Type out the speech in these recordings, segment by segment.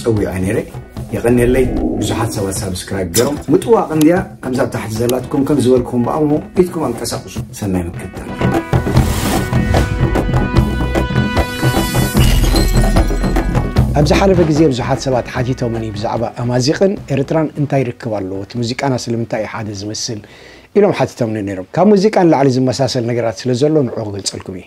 ጸዊዐ ነይረ የቀኔለይ ብዙሓት ሰባት ሳብስክራይብ ገይሮም ምጥዋቅ እንድያ ከምዛ ኣብ ታሕቲ ዘላትኩም ከም ዝበልኩም በኣ እሞ ኢድኩም ኣንቀሳቅሱ ሰናይ ምክትታል ኣብ ዝሓለፈ ግዜ ብዙሓት ሰባት ሓቲቶምኒ ብዛዕባ ኣማዚቕን ኤርትራን እንታይ ርክብ ኣለዎ እቲ ሙዚቃና ስለምንታይ እዩ ሓደ ዝመስል ኢሎም ሓቲቶምኒ ነይሮም ካብ ሙዚቃ ንላዕሊ ዝመሳሰል ነገራት ስለ ዘሎ ንዑ ክገልጸልኩም እዩ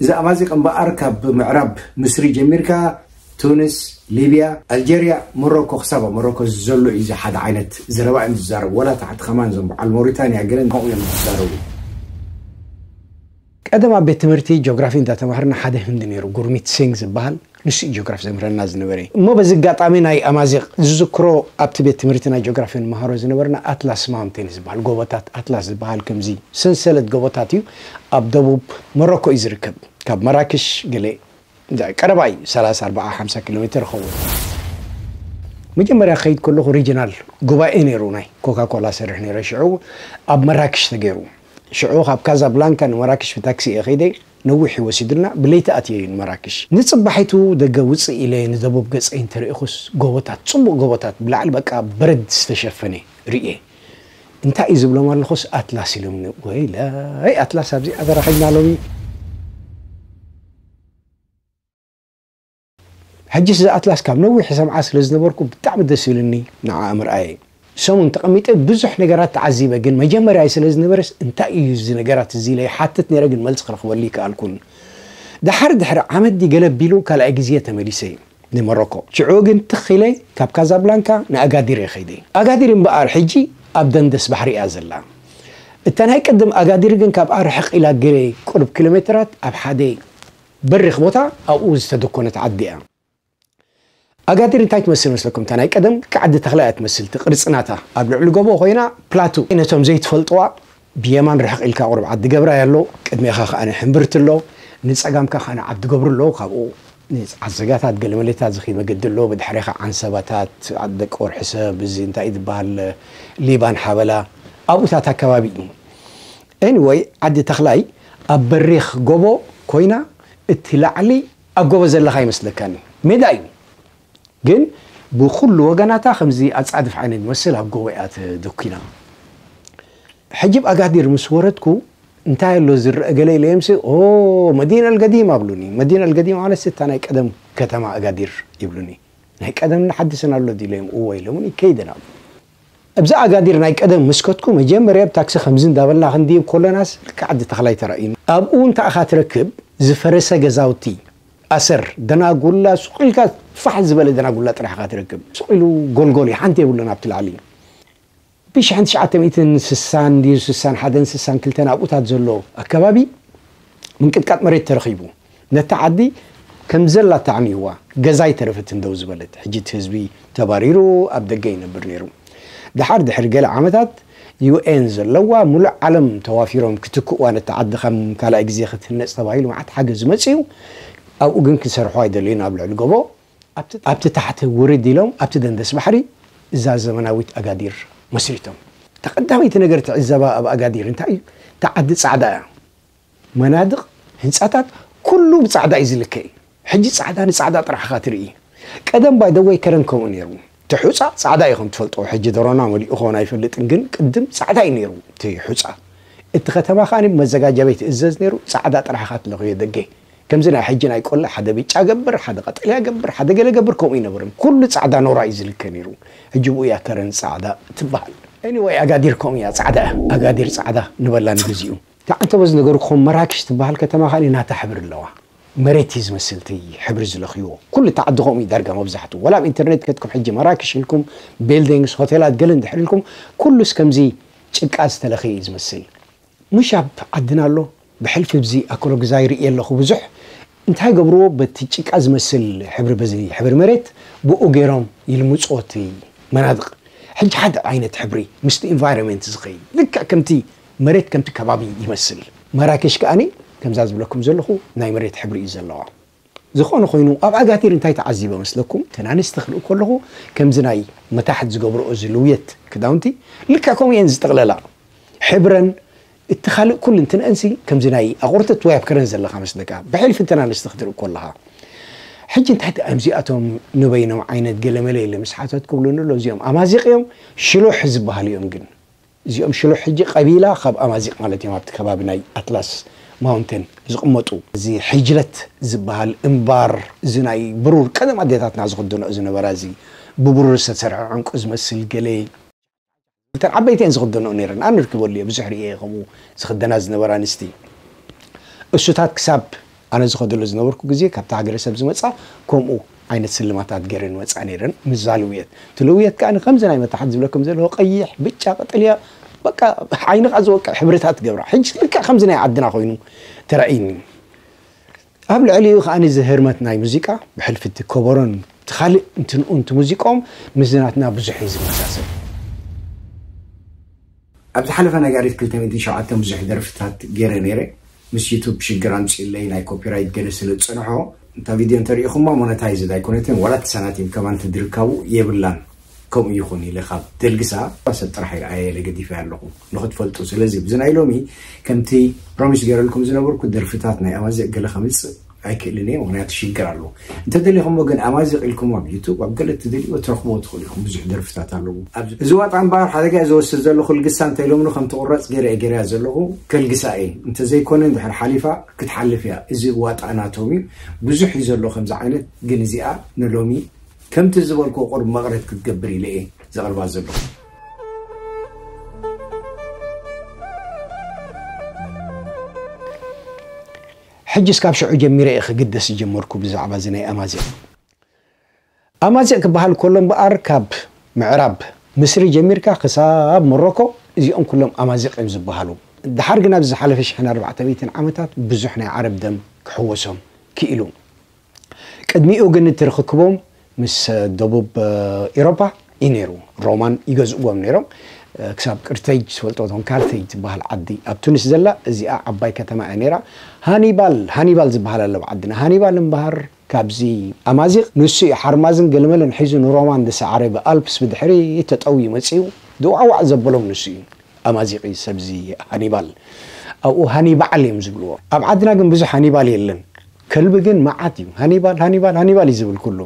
ብዛዕባ እዚ እምበኣር ካብ ምዕራብ ምስሪ ጀሚርካ ቱኒስ፣ ሊብያ፣ ኣልጀርያ፣ ሞሮኮ ክሳብ ኣብ ሞሮኮ ዘሎ እዩ እዚ ሓደ ዓይነት ዘረባ እዮም ዝዛረቡ ወላ ታሕቲ ከማን እዞም በዓል ሞሪታንያ ገለን ከምኡ እዮም ዝዛረቡ። ቀደም ኣብ ቤት ትምህርቲ ጆግራፊ እንዳ ተማሃርና ሓደ ህንዲ ነይሩ ጉርሚት ሲንግ ዝብሃል፣ ንሱ እዩ ጆግራፊ ዘምህረና ዝነበረ እሞ በዚ ኣጋጣሚ ናይ ኣማዚቕ ዝዝክሮ ኣብቲ ቤት ትምህርቲ ናይ ጆግራፊ ንመሃሮ ዝነበርና ኣትላስ ማውንቴን ዝበሃል ጎቦታት ኣትላስ ዝበሃል ከምዚ ሰንሰለት ጎቦታት እዩ ኣብ ደቡብ ሞሮኮ እዩ ዝርከብ ካብ መራክሽ ገለ ቀረባ እዩ ሰላሳ ኣርባዓ ሓምሳ ኪሎ ሜትር ይኸውን መጀመርያ ክኸይድ ከለኹ ሪጅናል ጉባኤ ነይሩ ናይ ኮካኮላ ሰርሕ ነይረ ሽዑ ኣብ መራክሽ ተገይሩ ሽዑ ካብ ካዛብላንካ ንመራክሽ ብታክሲ እየ ከይደ ነዊሕ እዩ ወሲዱና፣ ብለይቲ ኣትየ'ዩ ንመራክሽ። ንጽባሒቱ ደገ ውጽእ ኢለ ንደቡብ ገጸይ እንተ ርኢኹስ፣ ጎቦታት፣ ጽቡቕ ጎቦታት፣ ብላዕሊ በቃ በረድ ዝተሸፈነ ርእየ። እንታይ እዩ ዝብሎም ኣለኹስ ኣትላስ ኢሎምኒ። ወይለይ ኣትላስ ኣብዚኣ ተረኺብና ሎሚ! ሕጂስ እዛ ኣትላስ ካብ ነዊሕ ይሰምዓ ስለ ዝነበርኩ ብጣዕሚ ደስ ኢሉኒ ንዓኣ ምርኣየይ ሰሙን ተቀሚጠ ብዙሕ ነገራት ተዓዚበ ግን መጀመርያይ ስለ ዝነበረስ እንታይ እዩ እዚ ነገራት እዚ ኢለ ይሓትት ነይረ ግን መልሲ ክረክበሉ ኣይከኣልኩን ደሓር ድሕሪ ዓመት ድዩ ገለ ኣቢሉ ካልኣይ ግዜ ተመሊሰ ንመሮኮ ሽዑ ግን ትኽ ኢለ ካብ ካዛብላንካ ንኣጋዲር እየ ከይደ ኣጋዲር እምበኣር ሕጂ ኣብ ደንደስ ባሕሪ እያ ዘላ እታ ናይ ቅድም ኣጋዲር ግን ካብኣ ርሕቅ ኢላ ገለ ቁሩብ ኪሎሜትራት ኣብ ሓደ በሪኽ ቦታ ኣብኡ ዝተደኮነት ዓዲ እያ። ኣጋዲር እንታይ ትመስል ይመስለኩም? እታ ናይ ቀደም ቃዕዲ ተኽላ እያ ትመስል እቲ ቅርጺ ናታ። ኣብ ልዕሊ ጎቦ ኮይና ፕላቱ። ነቶም ዘይትፈልጥዋ ብየማን ርሕቕ ኢልካ ቁሩብ ዓዲ ገብራይ ኣሎ፣ ቅድሜኻ ከኣ ሕምብርቲ ኣሎ፣ ንጸጋምካ ከኣ ዓዲ ገብሩ ኣሎ፣ ካብኡ ንዓዘጋታት ገለመለታት ዝኺድ መገዲ ኣሎ፣ ብድሕሬኻ ዓንሰባታት፣ ዓዲ ደቂ ወርሒሰብ፣ እዚ እንታይ እዩ ዝበሃል ሊባን ሓበላ ኣብኡ እታ እታ ከባቢ እዩ። Anyway ዓዲ ተኽላይ ኣብ በሪኽ ጎቦ ኮይና እቲ ላዕሊ ኣብ ጎቦ ዘለኻ ኣይመስለካን እዩ ሜዳ እዩ ግን ብኹሉ ወገናታ ከምዚ ኣጻድፍ ዓይነት ዝመስል ኣብ ጎቦ እያ ተደኲና ሕጂ ብ ኣጋዲር ምስ ወረድኩ እንታይ ኣሎ ዝረኣ ገለ ኢለዮምሲ ኦህ መዲና ኣልገዲማ ብሉኒ መዲና ኣልገዲማ ማለትሲ እታ ናይ ቀደም ከተማ ኣጋዲር ይብሉኒ ናይ ቀደም ንሓድስን ኣሎ ድዩ ኢለዮም እወ ኢሎምኒ ከይደ ናብኡ ኣብዚ ኣጋዲር ናይ ቀደም ምስከትኩ መጀመርያ ብ ታክሲ ከምዚ እንዳበልና ክንድይብ ኮለናስ ልክዕ ኣዲ ተኽላይ ተራእዩኒ ኣብኡ እንታይ እኻ ትረክብ ዝፈረሰ ገዛውቲ ኣሰር ደናጉላ ሱቅ ኢልካ ፋሕ ዝበለ ደናጉላ ጥራሕ እኻ ትረክብ ሱቅ ኢሉ ጎልጎል እዩ ሓንቲ የብሉን ኣብቲ ላዕሊ ብ ሽሕን ትሽዓተ ሚእትን ስሳን ድዩ ስሳን ሓደን ስሳን ክልተን ኣብኡታት ዘሎ ኣከባቢ ምንቅጥቃጥ መሬት ተረኺቡ። ነታ ዓዲ ከም ዘላ ኣተዓሚይዋ ገዛ ኣይተረፈትን ደው ዝበለት። ሕጂ እቲ ህዝቢ ተባሪሩ ኣብ ደገ ይነብር ነይሩ። ደሓር ድሕሪ ገለ ዓመታት UN ዘለዋ ምሉእ ዓለም ተዋፊሮም ክትክእዋ ነታ ዓዲ ከም ካልኣይ ግዜ ክትህነጽ ተባሂሉ መዓት ሓገዝ ዝመጽእ'ዩ። ኣብኡ ግን ክሰርሑ ኣይደለዩን ኣብ ልዕሊ ጎቦ ኣብቲ ኣብቲ ታሕቲ ውርድ ኢሎም ኣብቲ ደንደስ ባሕሪ እዛ ዘመናዊት ኣጋዲር መስሪቶም። እታ ቀዳመይቲ ነገር ትዕዘባ ኣብ ኣጋዲር እንታይ እዩ እታ ዓዲ ጻዕዳ እያ። መናድቕ ህንጻታት ኩሉ ብጻዕዳ እዩ ዝልከ እዩ ሕጂ ጻዕዳ ንጻዕዳ ጥራሕ ኢኻ ትርኢ ቀደም ባይ ዘ ወይ ከረን ከምኡ ኔሩ እቲ ሑጻ ጻዕዳ እዩ ከምትፈልጦ ሕጂ ደሮና መሊኡ ክኾን ኣይፈልጥን ግን ቅድም ጻዕዳ እዩ ኔሩ እቲ ሑጻ እቲ ከተማ ከኣ ብመዘጋጃ ቤት ይእዘዝ ኔሩ ጻዕዳ ጥራሕ ኢኻ ትለኽዮ ደገ ከምዚ ናይ ሕጂ ናይ ቆላ ሓደ ብጫ ገብር ሓደ ቀጠልያ ገብር ሓደ ገለ ገብር ከምኡ ኣይነበረን ኩሉ ጻዕዳ ኖራ እዩ ዝልከ ኔሩ ሕጂ ብኡ እያ ከረን ጻዕዳ ትብሃል። Anyway ኣጋዲር ከምኡ እያ ጻዕዳ እያ ኣጋዲር ጻዕዳ ንበላ ንግዚኡ። እታ ዓንተቦ ዝነገርኩኹም መራክሽ ትበሃል ከተማ ከኣ ናታ ሕብሪ ኣለዋ። መሬት እዩ ዝመስል እቲ ሕብሪ ዝለኽዩዎ። ኩሉ እቲ ዓዲ ከምኡ እዩ ዳርጋ መብዛሕትኡ። ዋላ ኣብ ኢንተርኔት ከትኩም ሕጂ መራክሽ ኢልኩም ቢልዲንግስ ሆቴላት ገለ እንድሕር ኢልኩም ኩሉስ ከምዚ ጭቃ ዝተለኽየ እዩ ዝመስል። ምሽ ኣብ ዓድና ኣሎ ብሕልፊ ብዚ ኣኮሎግዛ ይርእዮ ኣለኹ ብዙሕ። እንታይ ገብሩዎ በቲ ጭቃ ዝመስል ሕብሪ በዚ ሕብሪ መሬት ብኡ ገይሮም ይልምጹዎ እቲ መናድቕ። ሕጂ ሓደ ዓይነት ሕብሪ ምስቲ ኢንቫይሮመንት ዝኸይድ ልክዕ ከምቲ መሬት ከምቲ ከባቢ ይመስል። ማራኬሽ ከኣ ከምዛ ዝብለኩም ዘለኹ ናይ መሬት ሕብሪ እዩ ዘለዋ። ዝኾነ ኮይኑ ኣብ ኣጋቲር እንታይ ተዓዚበ መስለኩም? እተን ኣንስቲ ክርኢ ከለኹ ከምዚ ናይ መታሕት ዝገብርኦ እዚ ልውየት ክዳውንቲ ልክዕ ከምኡ እየን ዝጥቕለላ። ሕብረን እቲ ካልእ ኩሉ እንትንኣንሲ ከምዚ ናይ ኣቑርትት ወይ ኣብ ከረን ዘለኻ መስለካ ብሕልፊ እተን ኣንስቲ ክትርኢ ከለኻ። ሕጂ እንታይ ጥዕም እዚኣቶም ንበይኖም ዓይነት ገለመለ ኢለ ምስ ሓተትኩ ብሉኒ ኣሎ እዚኦም ኣማዚቕ እዮም ሽሎሕ ዝበሃሉ እዮም ግን። እዚኦም ሽሎ ሕጂ ቀቢላ ካብ ኣማዚቅ ማለት እዮም ኣብቲ ከባቢ ናይ ኣትላስ ማውንቴን ዝቅመጡ እዚ ሕጅለት ዝባሃል እምባር እዚ ናይ ብሩር ቀደም ኣዴታትና ዝክደንኦ ዝነበራ እዚ ብብሩር ዝተሰርሐ ዕንቁ ዝመስል ገለ እተን ዓበይቲ እየን ዝክደንኦ ነይረን ኣነ ርኪበሉ እየ ብዙሕ ሪኤ እየ ከምኡ ዝክደና ዝነበራ ኣንስቲ እሱታት ክሳብ ኣነ ዝኸደሉ ዝነበርኩ ግዜ ካብታ ሃገረሰብ ዝመጻ ከምኡ ኣይነት ስልማታት ገረን ይወጻ ነረን ምዛ ልውየት እቲ ልውየት ከኣ ከምዚ ናይ መታሕት ዝብለኩም ዘለኩ ቀይሕ ብጫ ቀጠልያ በቃ ዓይንካ ዝወቅዕ ሕብርታት ይገብራ ሕጂ ልክዕ ከምዚ ናይ ዓድና ኮይኑ ተራእይኒ ኣብ ልዕሊኡ ከኣ እዚ ህርመት ናይ ሙዚቃ ብሕልፊ እቲ ከበሮን እቲ ካልእ እንትንኡ ሙዚቆም ምስዚ ናትና ብዙሕ እዩ ዝመሳሰል ኣብ ዝሓለፈ ነጋሪት ክልተ ሚእትን ሸውዓተን ብዙሕ ደርፍታት ጌረ ኔረ ምስ ዩቱብ ሽግር ኣምጺኡለይ ናይ ኮፒራይት ገለ ስለ ዝጸንሖ እታ ቪድዮ እንተ ሪኢኹማ ሞነታይዝድ ኣይኮነትን ዋላ እቲ ሳናቲም ከማን እቲ ድርካቡ የብላን ከምኡ ይኹን ኢለ ካብ ደልግሳ ሰብ ጥራሕ ይርኣየ ኢለ ገዲፈያ ኣለኹ ንኽትፈልጡ ስለዚ ብዚ ናይ ሎሚ ከምቲ ፕሮሚስ ጌረልኩም ዝነበርኩ ደርፍታት ናይ ኣማዚእ ገለ ከምጽእ ኣይክእልን እየ ምክንያቱ ሽግር ኣለዎ እንተደሊኩሞ ግን ኣማዚቅ ኢልኩም ኣብ ዩቱብ ኣብ ገለ እትደልይዎ ትረክብዎ ትክእሉ ኢኩም ብዙሕ ደርፍታት ኣለዎ ኣብዚ እዚ ዋጣ እምበኣር ሓደጋ እየ ዝወስድ ዘለኩ ልግሳ እንተ ኢሎምኒ ከም ትቁረጽ ገይረ እየ ገይረያ ዘለኩ ከልግሳ እየ እንተ ዘይኮነ እንድሕር ሓሊፋ ክትሓልፍ እያ እዚ ዋጣ ናቶም እዩ ብዙሕ እዩ ዘሎ ከምዚ ዓይነት ግን እዚኣ ንሎሚ ከምቲ ዝበልኩዎ ቁርብ መቅረት ክትገብር ኢለ እየ ዘቅርባ ዘለኩ ሕጅስ ካብ ሽዑ ጀሚረ እየ ክግደስ ዝጀመርኩ ብዛዕባ እዚ ናይ ኣማዚቅ። ኣማዚቅ ክበሃል ከሎ እምበኣር ካብ ምዕራብ ምስሪ ጀሚርካ ክሳብ ሞሮኮ እዚኦም ኩሎም ኣማዚቅ እዮም ዝበሃሉ። ደሓር ግን ኣብዚ ዝሓለፈ ሽሕን ኣርባዕተ ሚእትን ዓመታት ብዙሕ ናይ ዓረብ ደም ክሕወሶም ክኢሉ። ቅድሚኡ ግን እቲ ርኽክቦም ምስ ደቡብ ኢሮፓ እዩ ነይሩ። ሮማን ይገዝእዎም ነይሮም። ክሳብ ቅርተይጅ ትፈልጦ ዶ? ካርተይጅ ትበሃል ዓዲ ኣብ ቱኒስ ዘላ እዚኣ ዓባይ ከተማ እያ ነይራ። ሃኒባል ሃኒባል ዝበሃል ኣሎ ኣብ ዓድና። ሃኒባል እምበሃር ካብዚ ኣማዚቕ ንሱ እዩ ሓርማዝን ገለመለን ሒዙ ንሮማን ዝሰዓረ ብኣልፕስ ብድሕሪት ተጠውዩ መጺኡ ድዋዕዋዕ ዘበሎም ንሱ እዩ። ኣማዚቕ እዩ ሰብዚ ሃኒባል። ኣብኡ ሃኒባዕል እዮም ዝብልዎ። ኣብ ዓድና ግን ብዙሕ ሃኒባል የለን። ከልቢ ግን መዓት እዩ ሃኒባል ሃኒባል ሃኒባል እዩ ዝብል ኩሉ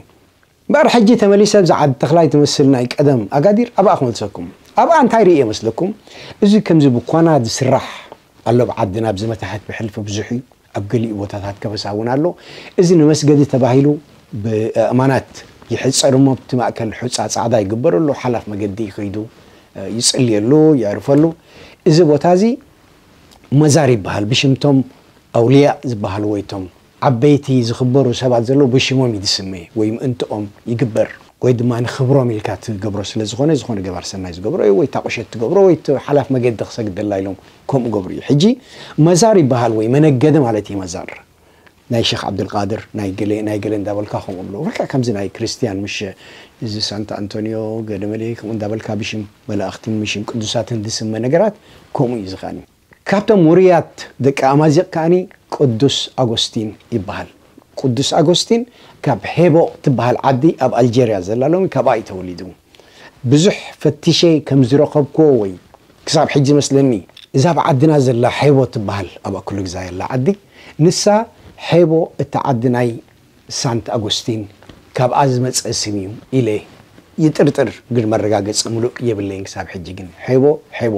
እምበር ሕጂ ተመሊሰ ኣብዛ ዓዲ ተኽላይ ትመስል ናይ ቀደም ኣጋዲር ኣብኣ ክመልሰኩም ኣብኣ እንታይ ርእየ መስለኩም እዚ ከምዚ ብኳና ዝስራሕ ኣሎ ኣብ ዓድና ኣብዚ መታሕት ብሕልፊ ብዙሕ እዩ ኣብ ገሊኡ ቦታታት ከበሳ እውን ኣሎ እዚ ንመስገዲ ተባሂሉ ብኣእማናት ይሕጸር እሞ ኣብቲ ማእከል ሑጻ ጻዕዳ ይግበረሉ ሓላፍ መገዲ ከይዱ ይጽልየሉ የዕርፈሉ እዚ ቦታ እዚ መዛር ይበሃል ብሽም ቶም ኣውልያእ ዝበሃሉ ወይ ቶም ዓበይቲ ዝኽበሩ ሰባት ዘለዉ ብሽሞም እዩ ዝስመ ወይ ምእንትኦም ይግበር ወይ ድማ ንኽብሮም ኢልካ ትገብሮ ስለ ዝኾነ ዝኾነ ገባር ሰናይ ዝገብሮ እዩ ወይ እታ ቁሸት ትገብሮ ወይ እቲ ሓላፍ መገዲ ክሰግደላ ኢሎም ከምኡ ገብሩ እዩ ሕጂ መዛር ይበሃል ወይ መነገዲ ማለት እዩ መዛር ናይ ሸኽ ዓብደልቃድር ናይ ገለ ናይ ገለ እንዳበልካ ከምኡ ኣሎ ልክዕ ከምዚ ናይ ክርስትያን ምሸ እዚ ሳንታ ኣንቶንዮ ገለመለ ከምኡ እንዳበልካ ብሽም መላእኽትን ምሽም ቅዱሳትን ዝስመ ነገራት ከምኡ እዩ እዚ ከኣኒ ካብቶም ውሩያት ደቂ ኣማዚቅ ከኣኒ ቅዱስ ኣጎስቲን ይበሃል ቅዱስ ኣጎስቲን ካብ ሄቦ ትበሃል ዓዲ ኣብ ኣልጀርያ ዘላ ሎሚ ካብኣ እዩ ተወሊዱ። ብዙሕ ፈቲሸ ከም ዝረኸብክዎ ወይ ክሳብ ሕጂ ዝመስለኒ እዛ ኣብ ዓድና ዘላ ሔቦ ትበሃል ኣብ ኣኩለ ግዛይ ኣላ ዓዲ ንሳ ሔቦ እታ ዓዲ ናይ ሳንት ኣጎስቲን ካብኣ ዝመጸ ስም እዩ ኢለ ይጥርጥር ግን መረጋገጺ ምሉእ የብለይን ክሳብ ሕጂ ግን ሔቦ ሔቦ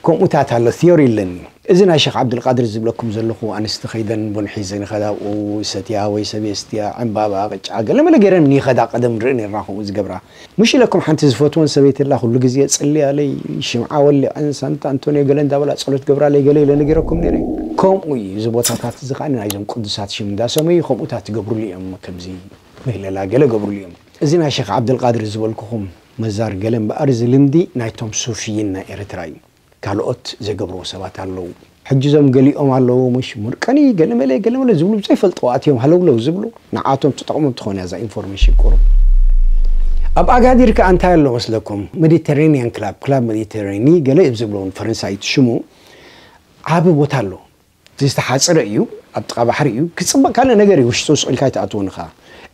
ከምኡታት ኣሎ theory ኣለኒ እዚ ናይ ሸኽ ዓብዱልቃድር ዝብለኩም ዘለኹ ኣንስቲ ከይደን ቡን ሒዘን ይኸዳ ኣብኡ ይሰትያ ወይ ሰብ የስትያ ዕንባባ ቅጫ ገለመለ ገይረን ንይኸዳ ቀደም ንርኢ ኔርና ከምኡ ዝገብራ ሙሽ ኢለኩም ሓንቲ ዝፈትወን ሰበይቲ ኣላ ኩሉ ግዜ ጽልያለይ ሽምዓ ወሊዐን ሳንታ ኣንቶንዮ ገለ እንዳበላ ጸሎት ገብራለይ ገለ ኢለ ነጊረኩም ኔረ ከምኡ እዩ እዚ ቦታታት እዚ ከኣ ናይዞም ቅዱሳት ሽም እንዳሰመዩ ከምኡታት ይገብሩሉ እዮም ከምዚ ምህለላ ገለ ገብሩሉ እዮም እዚ ናይ ሸኽ ዓብዱልቃድር ዝበልኩኹም መዛር ገለ እምበኣር እዚ ልምዲ ናይቶም ሱፍይን ናይ ኤረትራ እዩ ካልኦት ዘይገብርዎ ሰባት ኣለዉ ሕጂ እዞም ገሊኦም ኣለዉ ምሽ ሙርቀኒ ገለመለ ገለመለ ዝብሉ ብዘይፈልጥዎ ኣትዮም ሃለውለው ዝብሉ ንዓቶም ትጠቅሞም ትኾን እያ እዛ ኢንፎርሜሽን ቁሩብ ኣብ ኣጋዲር ከኣ እንታይ ኣሎ መስለኩም መዲተራኒያን ክላብ ክላብ መዲተራኒ ገለ እዮም ዝብልዎ ንፈረንሳይት ሽሙ ዓቢ ቦታ ኣሎ እቲ ዝተሓጽረ እዩ ኣብ ጥቃ ባሕሪ እዩ ክጽብቅ ካልእ ነገር እዩ ውሽጡ ስቅ ኢልካ ኣይትኣትዎን እኻ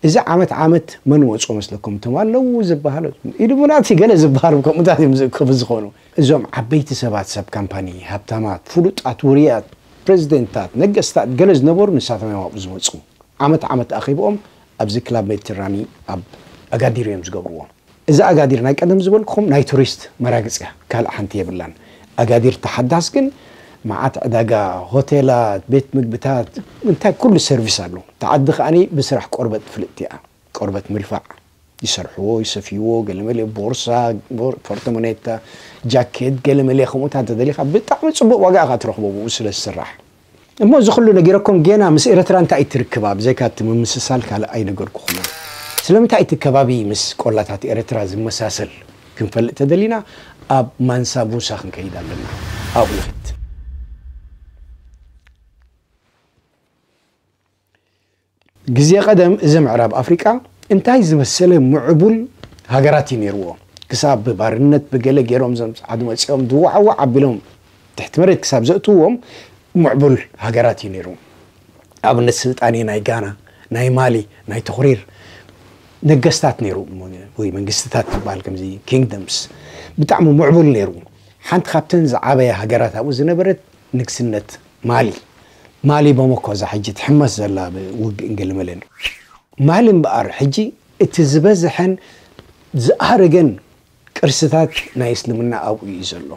እዚ ዓመት ዓመት መን ወጾ መስለኩም እቶም ኣለዉ ዝብሃሉ ኢሉሙናቲ ገለ ዝብሃሉ ከምኡታት እዮም ዝእከቡ ዝኮኑ እዞም ዓበይቲ ሰባት ሰብ ካምፓኒ ሃብታማት ፍሉጣት ውርያት ፕረዚደንትታት ነገስታት ገለ ዝነበሩ ንሳቶም እዮም ኣብኡ ዝመጹ ዓመት ዓመት ኣኼብኦም ኣብዚ ክላብ ሜድትራኒ ኣብ ኣጋዲር እዮም ዝገብርዎ። እዛ ኣጋዲር ናይ ቀደም ዝበልኩኹም ናይ ቱሪስት መራግፅ እያ ካልእ ሓንቲ የብላን። ኣጋዲር እታ ሓዳስ ግን መዓት ዕዳጋ፣ ሆቴላት፣ ቤት ምግብታት እንታይ ኩሉ ሰርቪስ ኣሎ። እታ ዓዲ ከኣ ብስራሕ ቆርበት ፍልጥቲ እያ። ቆርበት ምልፋዕ ይሰርሕዎ፣ ይሰፍይዎ፣ ገለመለ ቦርሳ፣ ፖርተሞኔታ፣ ጃኬት ገለመለ ከምኡታት እንተደሊኻ ብጣዕሚ ፅቡቕ ዋጋ ኢኻ ትረኽቦ ብኡ ስለ ዝስራሕ። እሞ እዚ ኩሉ ነጊረኩም ጌና ምስ ኤረትራ እንታይ እዩ እቲ ርክባ ብዘይካ እቲ ምምስሳል ካልእ ኣይነገርኩኹምን ስለምንታይ እቲ ከባቢ ምስ ቆላታት ኤረትራ ዝመሳሰል ክንፈልጥ ተደሊና ኣብ ማንሳ ሙሳ ክንከይድ ኣለና ኣብኡ ንክድ። ግዜ ቀደም እዚ ምዕራብ ኣፍሪቃ እንታይ ዝመሰለ ምዕቡል ሃገራት እዩ ኔርዎ ክሳብ ብባርነት ብገለ ጌሮም እዞም ጸዓዱ መጺኦም ድዋዓዋዕ ኣቢሎም ትሕቲ መሬት ክሳብ ዘእትውዎም ምዕቡል ሃገራት እዩ ኔሩ ኣብነት ስልጣኔ ናይ ጋና ናይ ማሊ ናይ ቶኽሪር ነገስታት ኔሩ ወይ መንግስትታት ዝበሃል ከምዚ kingdoms ብጣዕሚ ምዕቡል ኔሩ ሓንቲ ካብተን ዝዓበያ ሃገራት ኣብኡ ዝነበረት ንግስነት ማሊ ማሊ ቦሞኮ እዛ ሕጂ ትሕመስ ዘላ ብ ውግእን ግልምልን ማሊ እምበኣር ሕጂ እቲ ዝበዘሐን ዝኣረገን ቅርስታት ናይ እስልምና ኣብኡ እዩ ዘሎ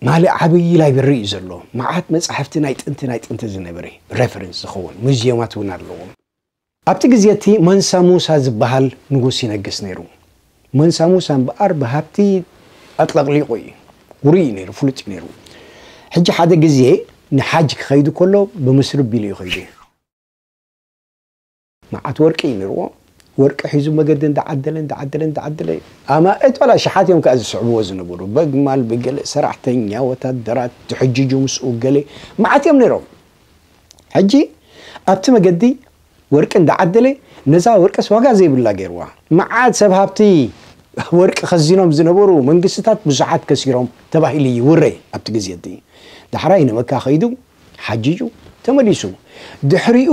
ማሊ ዓብይ ላይብረሪ እዩ ዘሎ መዓት መጻሕፍቲ ናይ ጥንቲ ናይ ጥንቲ ዝነበረ ረፈረንስ ዝኸውን ሙዝየማት እውን ኣለዎም። ኣብቲ ግዜ እቲ ማንሳ ሙሳ ዝበሃል ንጉስ ይነግስ ነይሩ። ማንሳ ሙሳ እምበኣር ብሃብቲ ኣጥለቕሊቑ እዩ። ውሩይ እዩ ነይሩ፣ ፍሉጥ እዩ ነይሩ። ሕጂ ሓደ ግዜ ንሓጅ ክኸይድ ከሎ ብምስሪ ኣቢሉ እዩ ከይዱ። መዓት ወርቂ እዩ ነይርዎ። ወርቂ ሒዙ መገዲ እንዳዓደለ እንዳዓደለ እንዳዓደለ ኣማእት ዋላ ኣሽሓት እዮም ከኣ ዝስዕብዎ ዝነበሩ በግማል ብገለ ሰራሕተኛ ወታደራት ዝሕጅጁ ምስኡ ገለ መዓት እዮም ነይሮም። ሕጂ ኣብቲ መገዲ ወርቂ እንዳዓደለ ነዛ ወርቅስ ዋጋ ዘይብላ ገይርዋ። መዓት ሰብ ሃብቲ ወርቂ ከዚኖም ዝነበሩ መንግስትታት ብዙሓት ከሲሮም ተባሂሉ እዩ ውረ ኣብቲ ግዜ እቲ። ዳሕራይ ንመካ ከይዱ ሓጂጁ ተመሊሱ። ድሕሪኡ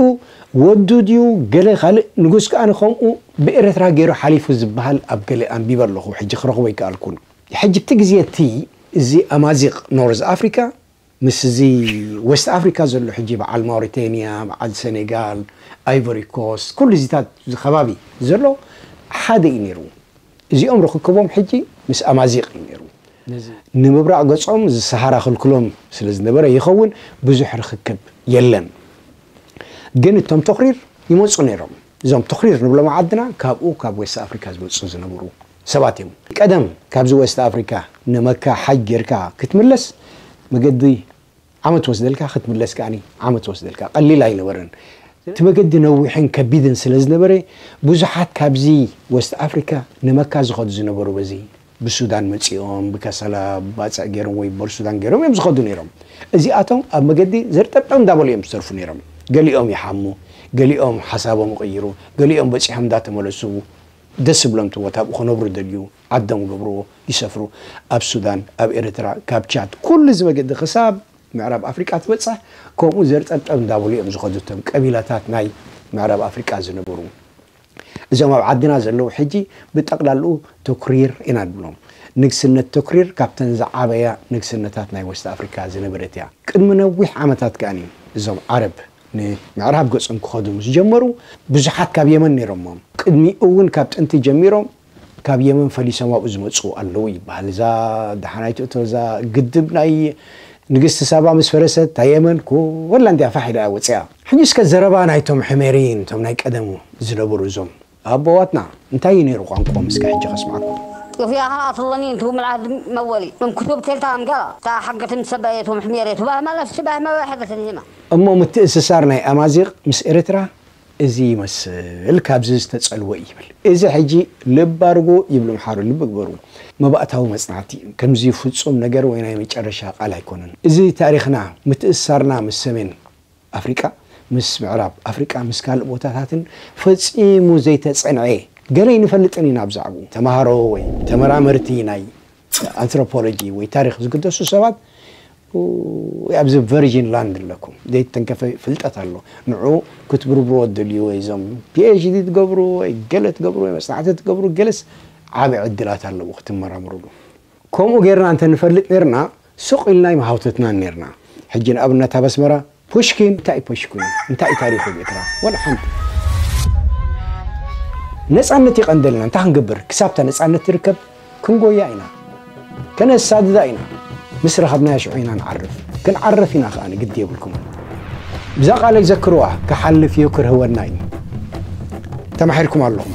ወዱ ድዩ ገለ ካልእ ንጉስ ከኣ ከምኡ ብኤረትራ ገይሩ ሓሊፉ ዝብሃል ኣብ ገለ ኣንቢበ ኣለኹ ሕጂ ክረኽቦ ኣይከኣልኩን። ሕጂ ኣብቲ ግዜ እቲ እዚ ኣማዚቕ ኖርዝ ኣፍሪቃ ምስዚ ወስት ኣፍሪካ ዘሎ ሕጂ በዓል ማውሪተንያ በዓል ሰኔጋል ኣይቮሪ ኮስት ኩሉ እዚታት እዚ ከባቢ ዘሎ ሓደ እዩ ነይሩ እዚኦም ርኽክቦም ሕጂ ምስ ኣማዚቅ እዩ ነይሩ ንምብራቅ ገጾም እዚ ሰሃራ ክልክሎም ስለ ዝነበረ ይኸውን ብዙሕ ርኽክብ የለን ግን እቶም ቶኽሪር ይመጹ ነይሮም እዞም ቶኽሪር ንብሎም ዓድና ካብኡ ካብ ወስት ኣፍሪካ ዝመጹ ዝነበሩ ሰባት እዮም ቀደም ካብዚ ወስት ኣፍሪካ ንመካ ሓጅ ገርካ ክትምለስ መገዲ ዓመት ወስደልካ ክትምለስ ከኣ ዓመት ወስደልካ ቀሊል ኣይነበረን እቲ መገዲ ነዊሕን ከቢድን ስለ ዝነበረ ብዙሓት ካብዚ ወስት ኣፍሪካ ንመካ ዝኸዱ ዝነበሩ በዚ ብሱዳን መጺኦም ብከሰላ ባጽዕ ገይሮም ወይ ቦርሱዳን ገይሮም እዮም ዝኸዱ ነይሮም እዚኣቶም ኣብ መገዲ ዘርጠብጠብ እንዳበሉ እዮም ዝተርፉ ነይሮም ገሊኦም ይሓሙ ገሊኦም ሓሳቦም ይቕይሩ ገሊኦም በጺሖም እንዳተመለሱ ደስ ዝብሎም እቲ ቦታ ኣብኡ ክነብሩ ዝደልዩ ዓዶም ገብርዎ ይሰፍሩ ኣብ ሱዳን ኣብ ኤረትራ ካብ ቻድ ኩሉ እዚ መገዲ ክሳብ ምዕራብ ኣፍሪቃ ትበጽሕ ከምኡ ዘርጠብጠብ እንዳበሉ እዮም ዝኸዱ እቶም ቀቢላታት ናይ ምዕራብ ኣፍሪቃ ዝነበሩ እዞም ኣብ ዓድና ዘለዉ ሕጂ ብጠቅላልኡ ቶክሪር ኢና ንብሎም ንግስነት ቶክሪር ካብተን ዝዓበያ ንግስነታት ናይ ወስት ኣፍሪካ ዝነበረት እያ ቅድሚ ነዊሕ ዓመታት ከኣ እዞም ዓረብ ንምዕራብ ገጾም ክኸዱ ምስ ጀመሩ፣ ብዙሓት ካብ የመን ነይሮም'ም። ቅድሚኡ'ውን ካብ ጥንቲ ጀሚሮም ካብ የመን ፈሊሶም ኣብኡ ዝመጽኡ ኣለዉ ይበሃል። እዛ ደሓናይ ትእቶ እዛ ግድብ ናይ ንግስቲ ሳባ ምስ ፈረሰት እታ የመን ኩላ እንድያ ፋሕ ኢላ እያ ወጺኣ። ሕጂ እስከ ዘረባ ናይቶም ሕሜርይን እቶም ናይ ቀደም ዝነበሩ እዞም። ኣቦዋትና እንታይ እዩ ነይሩ ቋንቁኦም እስከ ሕጂ ከስምዓኩም። እዚኣ ኸኣ ኣፍልለኒ እንቱ ምልኣት መወሊ እም ክቱብ ቴልታ እም ገራ እታ ሓገት እም ሰበየት እም ሕሜሬ ቱባህ መለስ ቱባህ መበ ሕደት እም ሂማ። እሞ ምትእስሳር ናይ ኣማዚቅ ምስ ኤርትራ እዚ ይመስል ካብዚ ዝተጸልወ እዩ ይብል እዚ ሕጂ ልብ ኣርጉ ይብል ኣምሓሩ ልቢ ግበሩ መባእታዊ መጽናዕቲ እዩ ከምዚ ፍጹም ነገር ወይ ናይ መጨረሻ ቃል ኣይኮነን እዚ ታሪኽና ምትእስሳርና ምስ ሰሜን ኣፍሪቃ ምስ ምዕራብ ኣፍሪቃ ምስ ካልእ ቦታታትን ፈጺሙ ዘይተጸንዔ ገለ ኣይንፈልጥን ኢና ብዛዕብኡ። ተማሃሮ ወይ ተመራመርቲ ናይ ኣንትሮፖሎጂ ወይ ታሪኽ ዝግደሱ ሰባት ወይ ኣብዚ ቨርጂን ላንድ ኣለኩም ዘይተተንከፈ ፍልጠት ኣሎ ንዑ ክትብርብርዎ ትደልዩ ወይ እዞም ፒኤችዲ ትገብሩ ወይ ገለ ትገብሩ ወይ መጽናዕቲ ትገብሩ ገለስ ዓቢ ዕድላት ኣለዎ ክትመራምርሉ። ከምኡ ጌርና እንተ ንፈልጥ ኔርና ስቕ ኢልና ኣይምሃውተትናን ኔርና። ሕጂ ንኣብነት ኣብ ኣስመራ ፑሽኪን እንታይ እዩ ፑሽኪን እዩ እንታይ እዩ ታሪኹ ኣብ ኤርትራ ዋላ ሓንቲ። ነጻነት ይቀንደልና እንታይ ክንገብር ክሳብ እታ ነጻነት ትርከብ ክንጎያ ኢና ከነሳድዳ ኢና ምስ ረኸብናያ ሽዑ ኢና ንዓርፍ ክንዓርፍ ኢና ከኣ ግዲ የብልኩምን። እዛ ቃለይ ዘክርዋ ክሓልፍ እዩ ክርህወና እዩ ተማሒርኩም ኣለኹም።